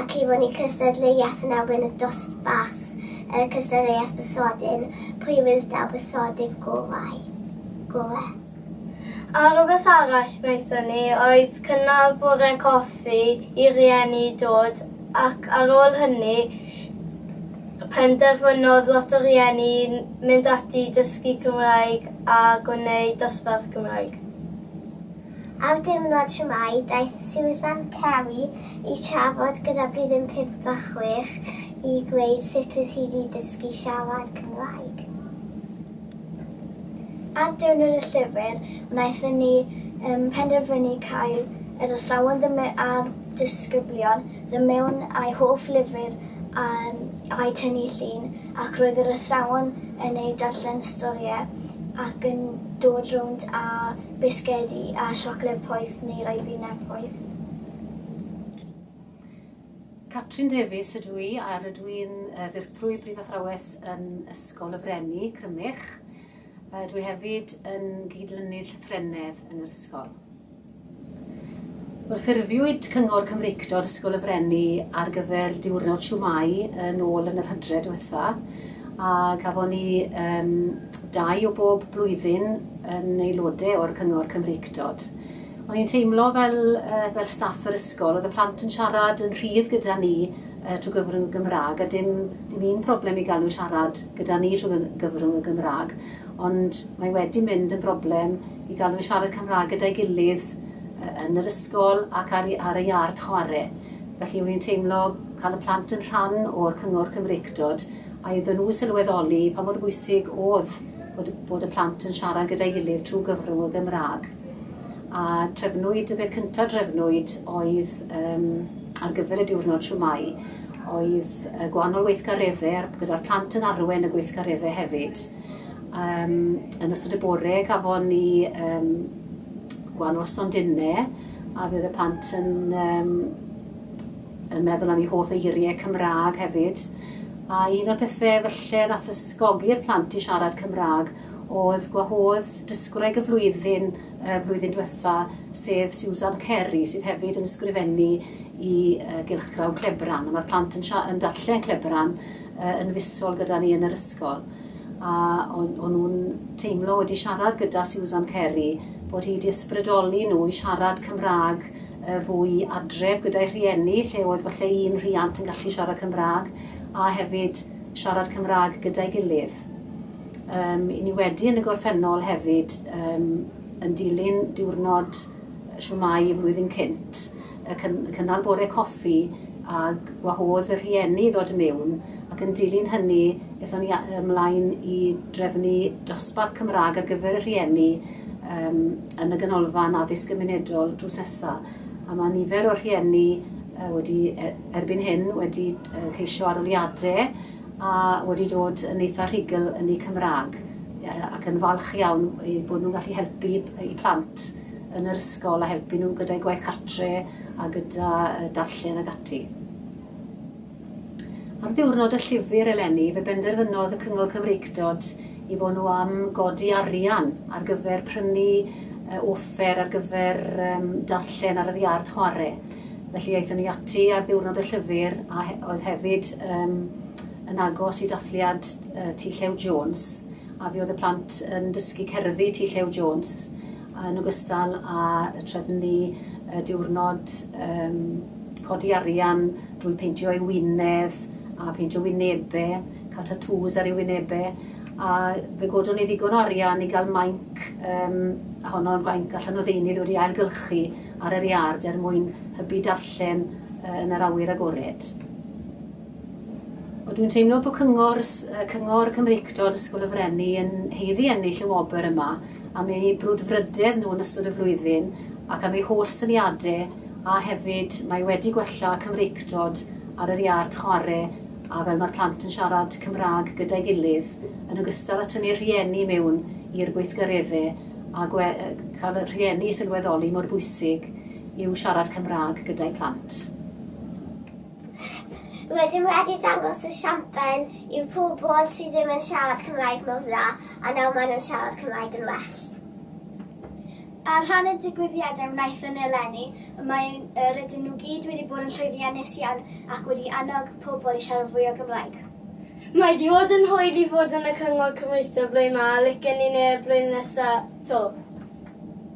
ac i fynnu cystadleuaeth yn erbyn y dosbarth, y cystadleuaeth besodyn, pwy fydd daw besodydd gorau, gore. A rhywbeth arall wnaethon ni oedd cynnal bore coffi i rieni i dod ac ar ôl hynny penderfynodd lot o rieni mynd ati i dysgu Cymraeg a gwneud dosbarth Cymraeg. Ar ddiwrnod Siwmai, daeth Susan Carey i trafod gyda blwyddyn pump a chwech i ddweud sut oedd hi wedi dysgu siarad Cymraeg. Ar Diwrnod y Llyfr, wnaethon ni um, penderfynu cael yr athrawon ddim a'r disgyblion ddim mewn a'u hoff lyfr um, a'u tynnu llun ac roedd yr athrawon yn eu darllen storïau ac yn dod rownd a bisgedi a siocled poeth neu ribina poeth. Catrin Davies ydw i a rydw i'n ddirprwy Brif Athrawes yn Ysgol y Freni, Crymych. Dw i hefyd yn gydlynydd llythrennedd yn yr ysgol. Wel, ffurfiwyd Cyngor Cymreictod Ysgol y Freni ar gyfer diwrnod siwmai yn ôl yn yr hydref diwetha, A gafon ni yym dau o bob blwyddyn yn aelode o'r Cyngor Cymreictod. O'n i'n teimlo fel, uh, fel staff yr ysgol, oedd y plant yn siarad yn rhydd gyda ni uh, trwy gyfrwng y Gymraeg, a dim, dim un problem i gael nhw siarad gyda ni trwy gyfrwng y Gymraeg, ond mae wedi mynd yn broblem i gael nhw siarad Cymraeg gyda'i gilydd uh, yn yr ysgol ac ar, ar y iard chwarae. Felly, o'n i'n teimlo cael y plant yn rhan o'r Cyngor Cymreictod, a iddyn nhw sylweddoli pa mor bwysig oedd bod, bod y plant yn siarad gyda'i gilydd trwy gyfrwng y Gymraeg. A trefnwyd, y peth cyntaf drefnwyd oedd um, ar gyfer y diwrnod siwmai, oedd y gwahanol weithgareddau gyda'r plant yn arwen y gweithgareddau hefyd. Um, yn ystod y bore gafon ni um, gwahanol stondinau a fydd y plant yn um, yn meddwl am ei hoff eiriau Cymraeg hefyd, a un o'r pethe falle nath ysgogi'r plant i siarad Cymraeg oedd gwahodd dysgwraig y flwyddyn y flwyddyn diwetha, sef Susan Carey, sydd hefyd yn ysgrifennu i uh, Gylchgrawn Clebran, a mae'r plant yn, yn darllen Clebran uh, yn fusol gyda ni yn yr ysgol. A o'n, on nhw'n teimlo wedi siarad gyda Susan Carey bod hi wedi ysbrydoli nhw i siarad Cymraeg y fwy i adref gyda'i rhieni, lle oedd falle un rhiant yn gallu siarad Cymraeg, a hefyd siarad Cymraeg gyda'i gilydd. Um, I ni wedi yn y gorffennol hefyd um, yn dilyn diwrnod siwmai y flwyddyn cynt, y cynnal bore coffi a gwahodd y rhieni ddod i mewn ac yn dilyn hynny ethon ni ymlaen i drefnu dosbarth Cymraeg ar gyfer y rhieni um, yn y Ganolfan Addysg Gymunedol drws nesa, a mae nifer o rhieni uh, wedi, er, erbyn hyn, wedi uh, ceisio aroliadau a wedi dod yn eitha rhugl yn eu Cymraeg uh, ac yn falch iawn i bod nhw'n gallu helpu i plant yn yr ysgol a helpu nhw gyda'i gwaith cartre a gyda darllen ag ati. Ar ddiwrnod y llyfr eleni fe benderfynodd y Cyngor Cymreictod i fod nhw am godi arian ar gyfer prynu uh, offer ar gyfer um, darllen ar yr iard chwarae. Felly aethon ni ati ar ddiwrnod y llyfr a he oedd hefyd um, yn agos i dathliad uh, T Llew Jones a fi oedd y plant yn dysgu cerddi T Llew Jones yn ogystal â trefnu diwrnod codi arian drwy peintio ei wyneb a pheintio wynebau, cael tatŵs ar ei wynebau, a fe godon ni ddigon o arian i gael mainc, um, a honno'n fainc allan o ddeunydd wedi ailgylchu ar yr iard er mwyn hybu darllen uh, yn yr awyr agored. Ond dwi'n teimlo bod cyngor, cyngor Cymreictod Ysgol y Frenni yn heiddi ennill y wobr yma am eu brwdfrydedd nhw yn ystod y flwyddyn ac am eu holl syniadau a hefyd mae wedi gwella Cymreictod ar yr iard chwarae a fel mae'r plant yn siarad Cymraeg gyda'i gilydd yn ogystal â tynnu'r rhieni mewn i'r gweithgareddau a gwe, cael y rhieni i sylweddoli mor bwysig yw siarad Cymraeg gyda'i plant. Rydym wedi dangos y siambr i'r pobl sydd ddim yn siarad Cymraeg mor dda, a nawr maen nhw'n siarad Cymraeg yn well. Ar ran y digwyddiadau wnaethon ni eleni, mae rydyn nhw gyd wedi bod yn llwyddiannus iawn ac wedi annog pobl i siarad fwy o Gymraeg. Mae wedi bod yn hwyl i fod yn y Cyngor Cymreictod blwyddyn ma a licen ni neu'r blwyddyn nesaf 'to.